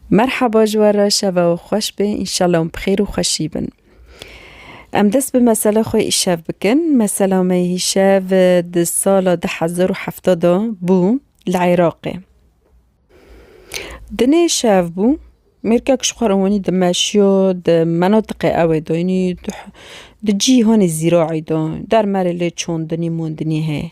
Merhaba ji we re şeva we xweş be înşallah hûn bi xêr û xweşî bin. Em dest bi mesela xwe îşev bikin. Mesela me îşev di sala du hezar û hefta de bû li Iraqê. Di nê şev bû mêrkek ji xwe re wanî di meşiya di menatiqê ew ê de yanî di cîhanê zîraî de dermerê lê çandinî mandinî heye.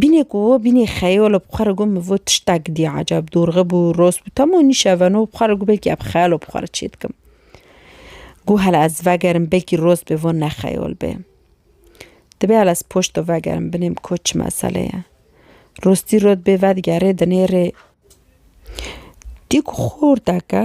Bînê ku wo bînê xeyal û bi xwe re got min vo tiştek dî eceb dorxe bû rost bû temo nîşe veno bi xwe re got belkî ev xeyal û bi xwe re çê dikim. Got hele ez vegerim belkî rost bê vo ne xeyal bê. Dibê hele ez poşto vegerim binê min ko çi mesele ye. Rostî rot bê vedigerê dinêrê dî ku xor deke.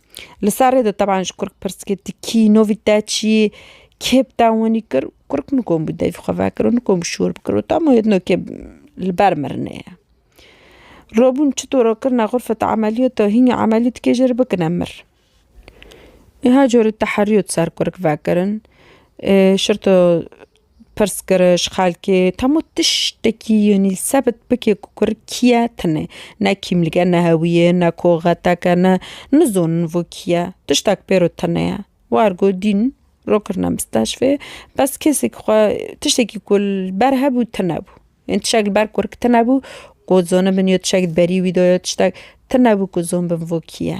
Li serê de teban ji kurk pirs kir tu kî yî, novî te çi yî, kê bi te wanî kir, kurk nikom bi devî xwe vekir û nikom bi şûr bikir û tam wê nokê li ber mirinê ye. Robûn çito re kirine xurfeta emeliyot de hînî emeliyot dike jê re bikine mir. Her cure teheriyot ser kurk vekirin şirto Pirsgiriş, xelkê hemû tiştekî yenî li sebit bike ku kur kî ye tune. Ne kîmlîk e, ne hewîye, ne koxetek e, ne nizonin vû kî ye. Tiştek pêro tune ye. War got dîn ro kirine mistashfê bes kesê ku xwe tiştekî ku li ber hebû tune bû. Yên tiştek li ber kurk tune bû ku zonibin yo tiştek di berî wî de ye tiştek tune bû ku zonbin vû kî ye.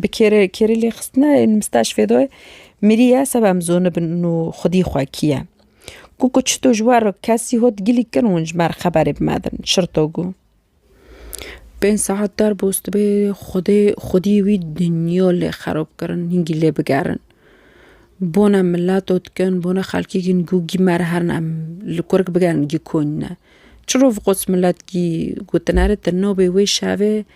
Bi kêrê kêrê lêxistina ên misteşfê de mirî ye seba em zonibin û xwedî xwe kî ye. Ku ku çito ji war kesî hot gilî kin hûn ji mer xeberê bimedin şirto gû. Pênc saet der bûs dibê xwedê xwedî wî dinya lê xerob kirin hingî lê bigerin. Bona milet û dikin bona xelkî kin gû gî mer herin em li kurik bigerin gî konîne. Çirov qos milet gî gotineri tu nabê wê şevê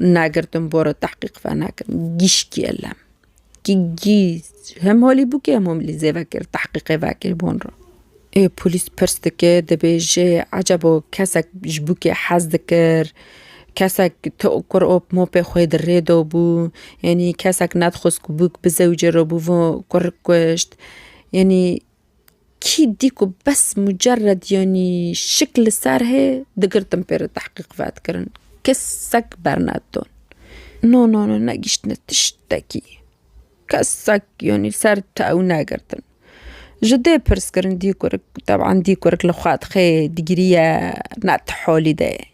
Nagirtin bore tehqîq venakin gîşkê lem kî gî hem holî bû kê hem homilî zê vekir tehqîqê vekir bon re. Ê polîs pirs dike dibêje ecebo kesek ji bo kê hez dikir kesek ti kur op mopê xwe di rê de bû yanî kesek nedixwest ku bûk bi zewicê re bû vir kişt yanî Kî dî ku bes mucerred yanî şik li ser hê digirtin pê re tehqîq fetkirin. Kesek bernedidon. No no no negîştine tiştekî. Kesek yanî ser tew negirtin. Ji dê pirskirin dî kurik teban dî kurik li xwe dixê digiriye ne ti holî de ye.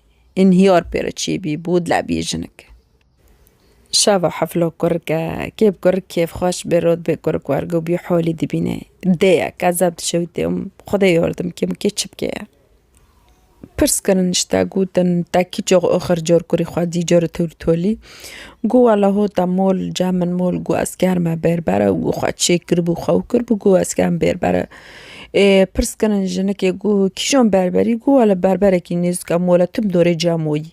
Înhiyar pê re çêbî bû dilebîje jinik. Şava heflo kurk e. Kêb kurk kêfxweş bê rot bê kurk wergo bî holî dibîne. Dê ye qezeb dişewitê û xwedê yordim kê min kê çi bike ye. Pirs kirin işte gotin te kî cox oxir cor kurî xwe dî cor tol tolî. Got wela hota mol cem min mol got ez ker me bêrbere û got xwe çêk kiribû xwe û kiribû got ez kem bêrbere. Ê pirs kirin jinikê got kîjan berberî got wela berberekî nêzika mola tim dorê cem oyî.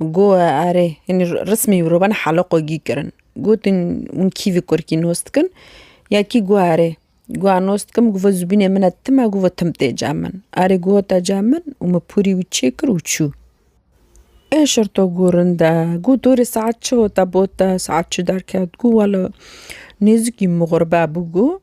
Goe erê hinî rismî mirovan heloqogî kirin. Gotin hûn kî vê kurikî nos dikin ya kî goe erê goa nos dikim govo zûbînê min e tim e govo tim tê cem min. Erê goe te cem min û min pûrî wî çêkir û çû. Ê şerto gurin de got dorê saet çi hota bot te saet çi derket got wela nêzikî mixurbe bû got.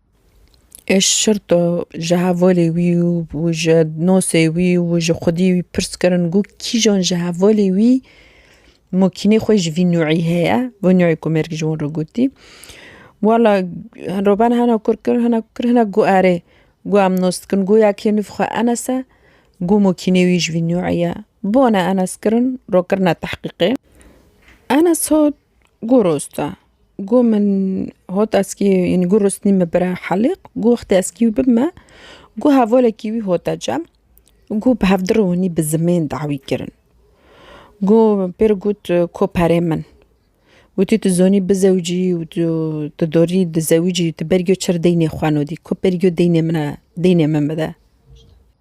Êş Şirto ji hevolê wî û ji nosê wî û ji xwedî wî pirs kirin ku kîjan ji hevolê wî mokînê xwe ji vî nûî heye, vê nûî ku mêrg ji wan re gotî wela roban hena kur kir hena kur kir hena got erê got em nos dikin got ya kê nûv xwe enes e got mokînê wî ji vî nûî ye. Bone enes kirin ro kirine tehqîqê enes hat Go rosta go min hot eskî ynî go rostî me bira helîq go wextê eskî wî bime go hevalekî wî hota cem go bi hevdir û hûnî bi zimên dawî kirin. Go pêro got ko perê min wotî tu zonî bi zewicî û tu tu dorî di zewicî tu berî giyo çir deynê xwe nodî ko berî giyo deynê min a deynê min bide.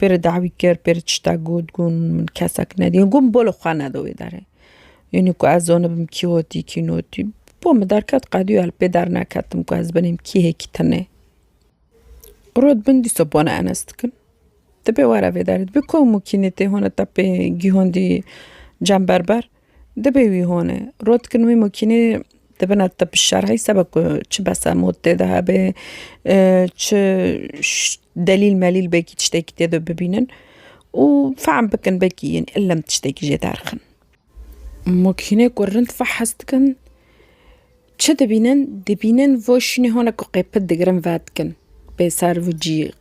Pê re dawî kir, pê re tiştek got, got min kesek nedî, got min bolo xwe neda wê derê. Înî ku ez zanibim kî hotî kî notî, bo min derket qedûya li pê derneketim ku ez binîm kî hê kî tune. Rot bin dîsa bona Enes dikin. Ti pê were vê derê, ti pê komûkînê tê hona te pê gihondî cem berber. Dibê wî hone. Rot dikin wî mokînê dibin at te pişar hey seba ku çi besa mod tê de hebê çi delîl melîl belkî tiştekî tê de bibînin û fehm bikin belkî yên illem tiştekî jê derxin. Mokînê ku rind fehes dikin çi dibînin dibînin vo şînê hone ku qê pit digirin ve dikin bê ser vû cî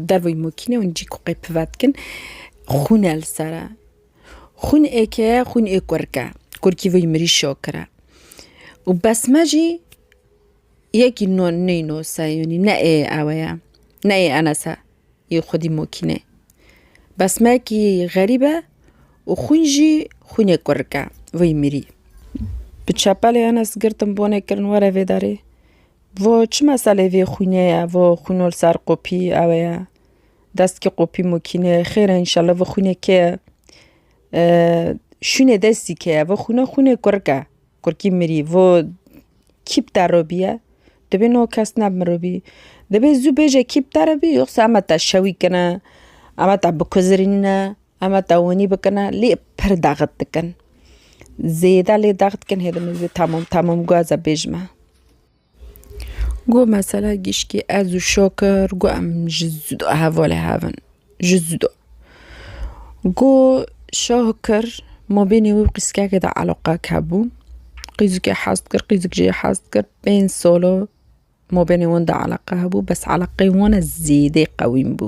derveyî mokînê hûn cî ku qê pit ve dikin xwune li ser e. Xûn ê ke xûn ê kurk e. Kurkî vî mirî şokir e. Û bes me jî yekî no neyno se yanî ne ê ewe ye. Ne ê Enes e. Yê xwedî mokînê. Bes me kî xerîb e û xûn jî xûn ê kurk e. Vî mirî. Bi çepelê Enes girtin bonê kirin were vê derê. Vo çi meselê vê xûnê ye, vo xûno li ser qopî ewe ye. Destki qopî mokîne xêre înşallah vê xwînê ke şûnê destî keye vê xwîne xwînê kurk e kurkî mirî vê kîp te re bîye divê no kes ne mirobî divê zû bêje kîp te re bî yoxsa ema te şewî kine ema te bikuzirîne ema te winî bikine lê pir daxit dikin zêde lê daxit dikin hê dimê zê temam temam guheze bêjime. Got mesela gişkî ez û şakir got em ji zido hevalê hev in ji zido. Got şakir mabênê wî û qîzikeke de eleqek hebû. Qîzikê hez dikir qîzik jê hez dikir pênc sala mabênê wan de eleqe hebû bes eleqeyê wan e zêdê qewîm bû.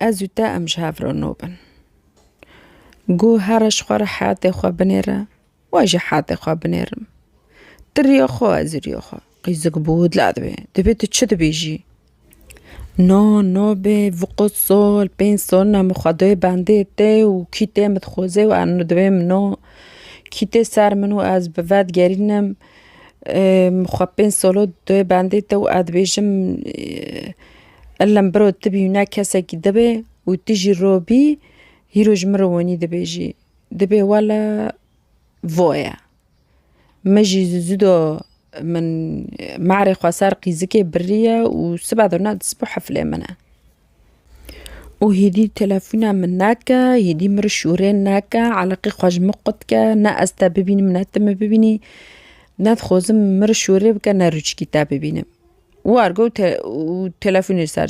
Ez û te em ji hev re no bin. Gu here ji xwe re heyatê xwe binêre, we jî heyatê xwe binêrim. Tu riya xwe, ez û riya xwe. Qîzik bû, dila dibê. Divê tu çi dibêjî? No, no bê, viqût sol, pênc sol ne min xwedayê bendê tê û kî tê min dixwazê û em dibê min no. Kî tê ser min û ez bi vedigerînim xwe pênc solo dayê bendê te û ez dibêjim Ellem biro ti bî ne kesekî dibe û ti jî ro bî hîro ji min re wenî dibê jî dibê wele voye. Min jî zû zû do min merê xwe ser qîzikê biriye û sibe do ne disbo heflê min e. Û hêdî telefona min nake hêdî min re şûrê nake eleqê xwe ji min qutke ne ez te bibînim ne tu min bibînî. Nedixwazim min re şûrê bike ne rûçikî te bibînim. Warg û telefonê ser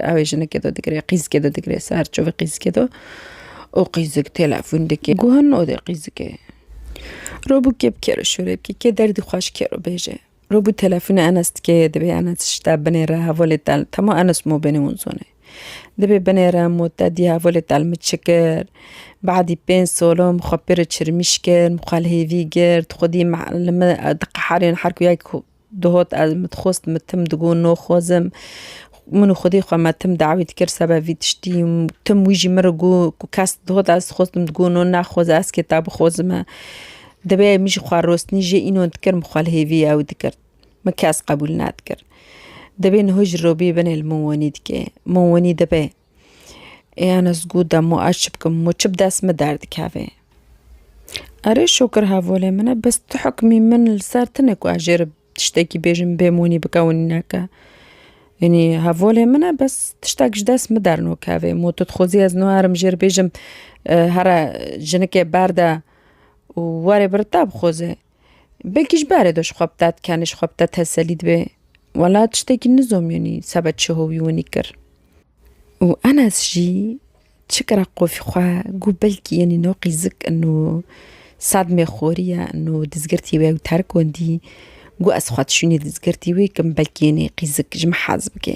ew ê jinekê de digre qîzikê de digre ser çavê qîzikê de û qîzik telefon dike guha nade qîzikê. Robû kê bi kê re şûrê bike kê derdî xwe ji kê re bêje. Robû telefonê Enes dike dibê Enes tişta binê re hevalê te li dema Enes mobinê wan zana. Dibê binê re ma te dî hevalê te li min çi kir badî pênc sala min xwe pê re çirmîş kir min xwe li hêvî girt xwedî min li min diqeherên her ku ya ku Duhot ez min dixwest min tim digot noxwezim. Min û xwedî xwe me tim dawî dikir seba vî tiştî. Tim wî jî min re got ku kes duhot ez dixwest min digot no naxweze ez kê ta bixwezime. Divê min jî xwe rostinî jê înon dikir min xwe li hêvî ew dikir. Min kes qebûl nadikir. Divê niho ji robî binê li min wenî dike. Min wenî dibe. Ê ana zgu demo ez çi bikim mu çi bi dest min derdikevê. Erê şokir hevolê min e bes tu hikmî min li ser tine ku ez jê re tiştekî bêjim bê monî bikewinîneke. Yanî hevolê min e bes tiştek ji dest min dernokevê mu tu dixwazî ez niha herim jê re bêjim here jinikê berde û were biri te bixweze. Belkî ji berê do ji xwe bi dad kenê, ji xwe bi te teselî dibê. Wela tiştekî nizomîyonî seba çi howî winî kir. Û Enes jî çi kira qofî xwe got belkî yenî no qîzik in û sedmê xorî ye in û dizgirtî wê ew terk wendî. Got ez xwe dişûnî dizgirtî wê kim belkî yenî qîzik ji min hez bike.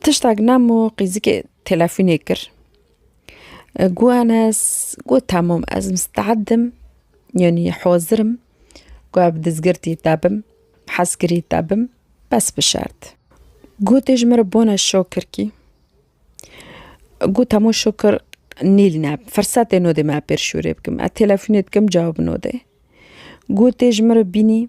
Tiştek nem û qîzikê telefûnê kir. Got Enes, got temam ez misteed im, yanî hazir im ku ev dizgirtî te bim, hezkirî te bim bes bi şert. Gotê ji min re bone şakir kî. Got hemû şukir nîl ne firsetê nodê me pêr şûrê bikim ez telefonê dikim cawab nodê. Gotê ji min re bînî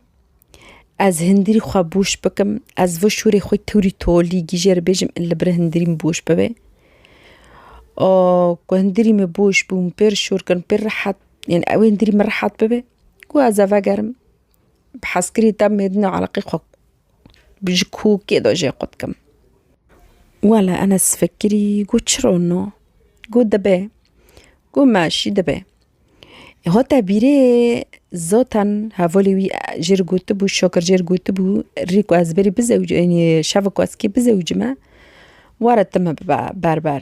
ez hindîrî xwe bûş bikim ez vir şûrê xwe tûrî tolî gîjer bêjim li vir hindîrî min bûş bibê. Ku hindîrî min bûş bû min pêr şûr kirin pêr rehet yani ew hindîrî min rehet bibê ku ez eve gerim bi hezkirî demê din û eleqî xwe Ji ku kê de jê xwe dikim. Wele Enes Fekirî got çi ron o? Got dibe. Got me jî dibe. Hate bîrê zaten hevalê wî jê re gotibû, Şakir jê re gotibû rê ku ez berî bizewicim, şeva ku ez kê bizewicime were tu me bibe berber.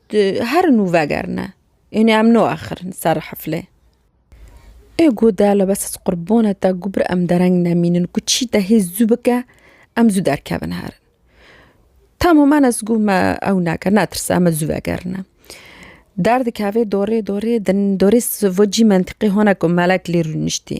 Tu her nû vegerine. Înê em naaxirin ser heflê. Ê gu de li bes ez qurbona te gu bir em dereng nemînin ku çî te hê zû bike em zû derkevin herin. Tamo men ez gu me ew neke netirse em zû vegerine. Derdikeve dorê dorê din dorê vo cî mentiqê hona ku melek lê rûniştî.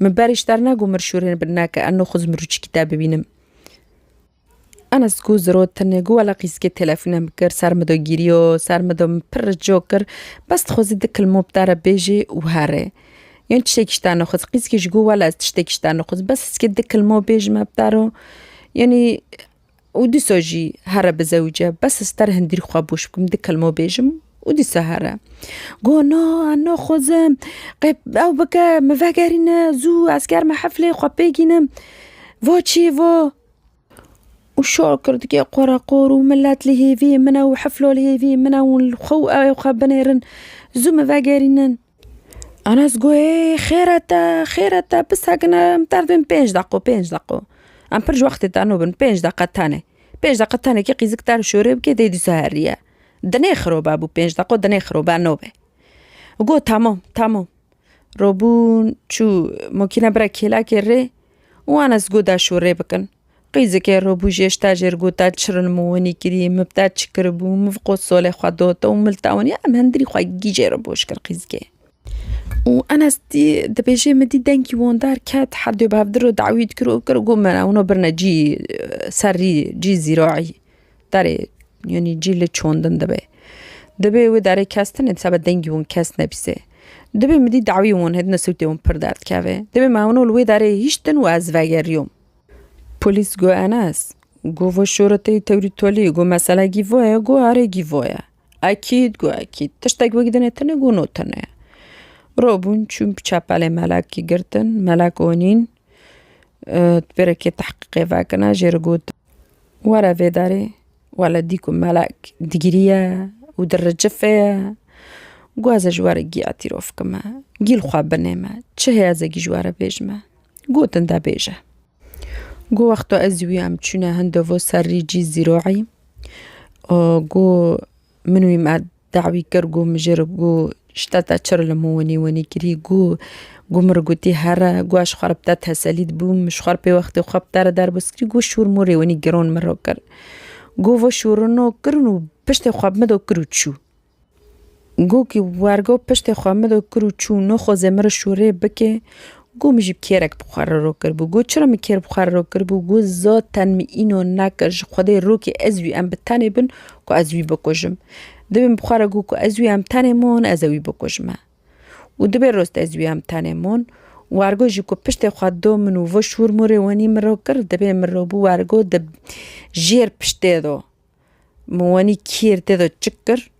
Min berîş derna got mir şûrên bin nake eno xwe zimrûçikî te bibînim. Enes got ziro tenê got wela qîzkê telefûne min kir ser min do gîriyo ser min do min pir rico kir bes dixwezî di kilmo bi te re bêjê û here. Yan tiştekî ji te nexwest qîzkê jî got wela ez tiştekî ji te nexwest bes heskê di kilmo bêjime bi te re yanî Û dîsa jî here bi zewce. Bes ez ter hindîr xwe boş bikim, di kelmo bêjim û dîsa here. Got na na xwezim, qe ew bike min vegerîne zû ez germe heflê xwe pê gînim. Va çi va? Û şa kir dike qoreqor û milet li hêvî min e û hefla li hêvî min e û xwe û ew ê xwe binêrin. Zû min vegerînin. Anas got, Ê xêr e te, xêr e te, bi sekin e, em tev dibin pênc deqo, pênc deqo. Em pir ji wextê teno bin, pênc deqe tenê. Pênc deqe tenê kê qîzik ter û şorê bike dê dîsa heriye. Di nê xirobe bû pênc deqo, di nê xirobe nobe. Got, Temam, temam. Robûn, çû mokînebira kêlekê rê û Anas got de şorê bikin. Qîzikê robûjê ji tejê re gote çirin min winî kirî, min bi te çi kiribû, min qo solê xwe dote û min li te winiye, em hindirî xwe gîjê re boş kir qîzikê. Û Enes dî dibêje min dî dengî wondar ket herdû bi hevdî re dawî dikir û kir got mena wina birine cî serrî cî zîraî derê yanî cî li çandin dibe. Dibê wê derê kes tune seba dengî wan kes nebîse. Dibê min dî dawî wan hêdine sûtê wan pir derdikeve. Dibê me wina li wê derê hiştin û ez vegeriyom. Polîs got Enes, got vo şoreteyî tewrî tolî, got mesela gî vo ye, got arê gî vo ye. Ekîd, got ekîd. Tiştek wek dinê tune, got no tune ye. Ro bûn çûn bi çepelê Melekî girtin, Melek onîn di pêrekê tehqîqê vekine jê re got were vê derê wele dî ku Melek digiriye û di ricifê ye. Got ez ê ji we re gî etîrofkime, gî li xwe binême, çi heye ez ê gî ji we re bêjime. Gotin de bêje. Go wexto ez wî em çûne hindovo ser rî cî zîroî go min wî me dawî kir go min jê re go şte te çir li min winî winî kirî go go min gotî here go ez xwe re bi te teselî dibûm min ji xwe re pê wextê xwe bi te re derbas kirî go şûr mûrê winî giron min re kir. Go ve şûrino kirin û piştê xwe bi min de kir û çû. Gû kî wergo piştê xwe min do kir û çû, no xwezê min re şûrê bikê, gû min jî bi kêrek bi xwe re rokir bû. Gû çira min kêr bi xwe re rokir bû, gû zaten min îno nekir, ji xwedê rokê ez wî em bi tenê bin ku ez wî bikujim. Dibê min bi xwe re gû ku ez wî em tenê mon ez ê wî bikujime. Û dibê rost ez wî em tenê mon, wergo jî ku piştê xwe do min û vi şûr mûrê wenî min rokir, dibê min re bû wergo di jêr piştê do Min wenî kêr tê de çik kir.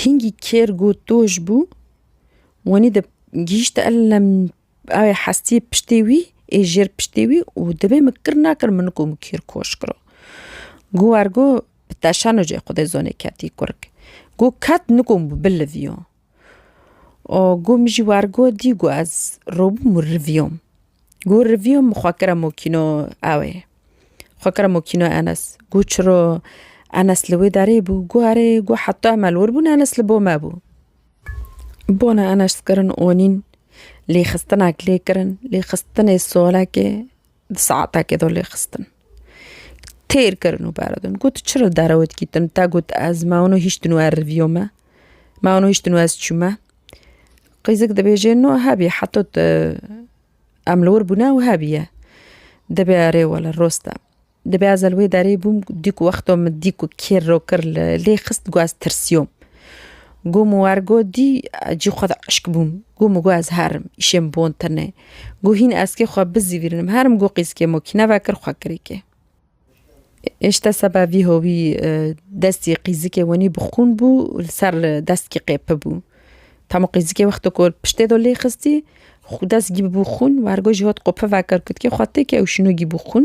Hîngî kêr got doj bû. Wenî di gihîşte elem aye hestiyê piştê wî ê jêr piştê wî û dibê min kir nakir min ku min kêr koş kiro. Got ergo bi teşano cê xwedê zonê ketî kurg. Got ket nikom biliviyo. O gu min jî wergo dî gu ez robûm û rivîyom. Gu rivîyom min xwe kira mokîno ew ê. Xwe kira mokîno Enes. Gu çiro Enes li wê derê bû. Gu erê gu heta em li wir bûn Enes li bo me bû. Bona Enes kirin onîn lêxistinek lê kirin lêxistinê solekê. Di saetekê de lê xistin. Têr kirin û beredin. Got çi re dere wê dikîtin? Te got ez me wano hiştin û erriviyo me. Me wano hiştin û ez çûme. Qîzik dibêjê no hebî heta tu em li wir bûne û hebîye. Dibê erê wele roste. Dibê ez li wê derê bûm dî ku wexto min dî ku kêr rokir lê xist got ez tirsiyo. Gomo ergo dî cî xwe de eşk bûm. Gomo got ez herim, îşê min bon tine. Got hîn eskê xwe bizîvîrinim herim got qîzkê mo kî neve kir xwe kirê kê. Îşte seba vî howî destî qîzikê wenî bi xûn bû û li ser dest kî qêpi bû. Tamo qîzikê wexto ku piştê do lê xistî dest gî bû xûn û ergo jî hot qopivekir kutkê xwe tê kê ew şîno gî bû xûn.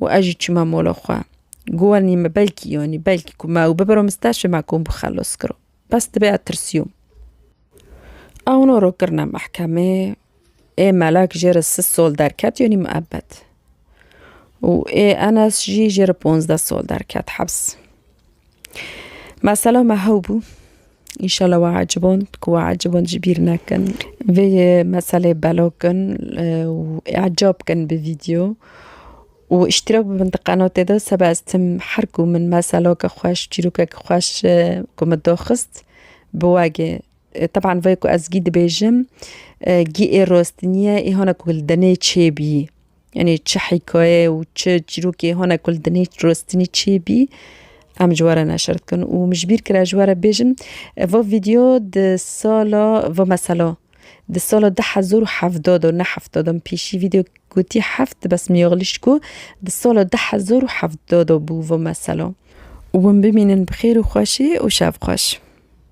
û ez jî çûma mola xwe. Guwanî me belkî yanî belkî ku me ew bibiro min ster şema ku min bi xelos kiro. Bes dibe ez tirsiyom. Ew no ro kirine mehkemê ê Melek jê re sis sol derket yanî miebet. Û ê Enes jî jê re ponzdeh sol derket hebs. Mesela me hew bû. Înşallah we eciband ku we eciband jî bîr nekin. Vê meselê belo kin û e'ca bikin bi vîdeo û îştîrak bibin di qenatê de seba ez tim her ku min meseleke xweş çîrokeke xweş ku min daxist bi we gê. Teban vê ku ez gî dibêjim, gî ê rostiniyê ê hona ku li dinê çêbî. Yanî çi hîkayeyê û çi çîrokê hona ku li dinê rostinî çêbî em ji we re neşir dikin û min ji bîr kir ez ji we re bêjim va vîdyo di sala va mesela di sala du hezar û hevda de ne hefta de min pêşî vîdyo gotî heft bes min axilîşt ku di sala du hezar û hevda de bû va mesela. Wan bimînin bi xêr û xweşî û şev xweş.